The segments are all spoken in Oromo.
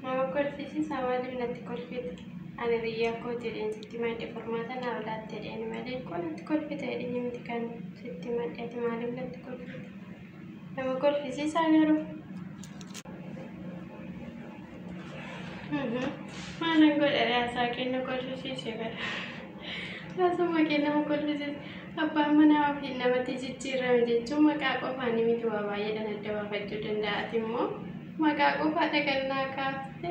Nama kolfisiisa maaliif natti kolfite? Ani biyyaa koo jedheen sitti madde furmaata naa olaatte jedheen malee koo natti kolfite jedhini miti kan sitti madde ati maaliif natti kolfite? Nama kolfisiisaa garuu. Mana godha raasaa kenna kolfisiise bara. Raasuma kenna ma kolfisiise. Abbaan manaa ofiin namatti jijjiirame jechuun maqaa qofaan miti waa baay'eedhaan adda baafachuu danda'a. Ati immoo maqaa qofaa dhaqannaa kaafte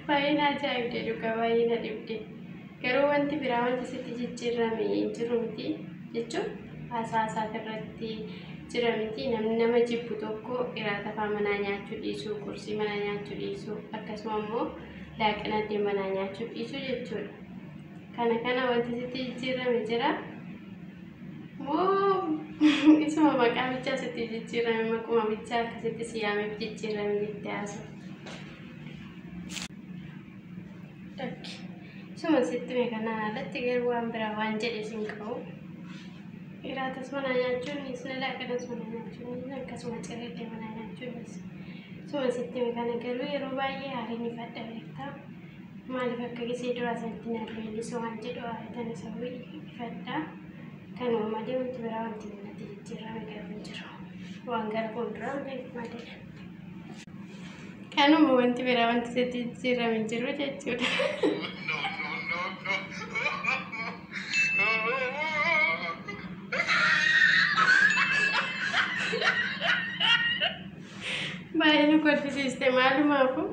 baay'ee na ajaa'ibde dhugaa baay'ee na dhibde. Garuu wanti biraa wanti sitti jijjiirrame hin jiru miti jechuun haasaa isaati irratti jira miti namni nama jibbu tokko iraata faa manaa nyaachuu dhiisuu qursii manaa nyaachuu dhiisuu akkasuma immoo laaqana addee manaa nyaachuu dhiisuu jechuudha kana kana wanti sitti jijjiirrame jira moo isuma maqaa bichaa sitti jijjiirrame maquma bichaa akkasitti siyaameef jijjiirrame jettee haasofte Lakki. Suma sitti mee kanaan alatti garuu waan biraa waan jedhe sin qabu. Iraatas manaa nyaachuunis ni laaqanas manaa nyaachuunis ni akkasuma cirriillee manaa nyaachuunis. Suma sitti mee kana garuu yeroo baay'ee haariin ifadha beektaa. Maaliif akka gisee duraa sanatti na leellisu waan jedhu haaritan isa wayii ifadha. Kanuma malee wanti biraa wanti natti jijjiirame garuu hin jiru. Waan gara fuulduraa beeku malee. Kanuma wanti biraa wanti sitti jijjiirame hin jiru jechuudha. Baay'ee nu kolfisiiste maalumaafuu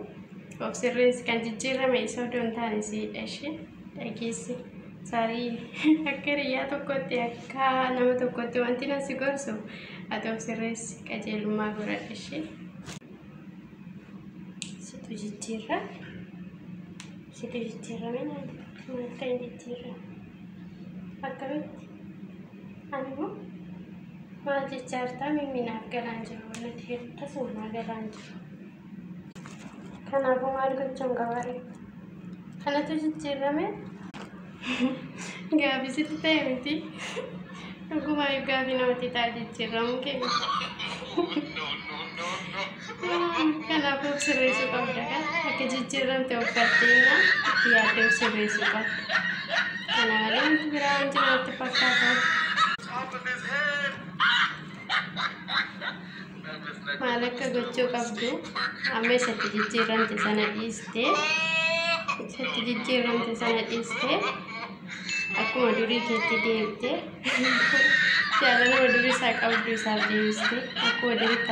of sirreessi kan jijjiirame isa odoo hin taane siidha ishee. dhageesse saarii akka hiriyyaa tokkotti akka nama tokkotti wanti nan si gorsu ati of sirreessi qajeelummaa godhadhu ishee situ jijjiirra situ jijjiirra mee naan maal ta'e jijjiirra akkamitti ani immoo maal jechaa jirtaa mimminaaf galaan jiru nati hirtasuma galaan jiru Kanaafuu maal gochuun qabaare? Kanatu jijjiirame? Gaaffii sitti ta'e miti. Dhugumaa gaaffii namatti ta'a jijjiiramu keenya. Kanaafuu sirreessuu qabda kan akka jijjiiramte of barteenna itti yaaddee of sirreessuu qabda. Kana malee wanti biraa hin jiru natti fakkaata. maal akka gochuu qabdu amma isatti jijjiiramte sana dhiiste isatti jijjiiramte sana dhiiste akkuma durii keetti deebite jaalaluma durii isaa qabdu isaaf deebiste akkuma duritti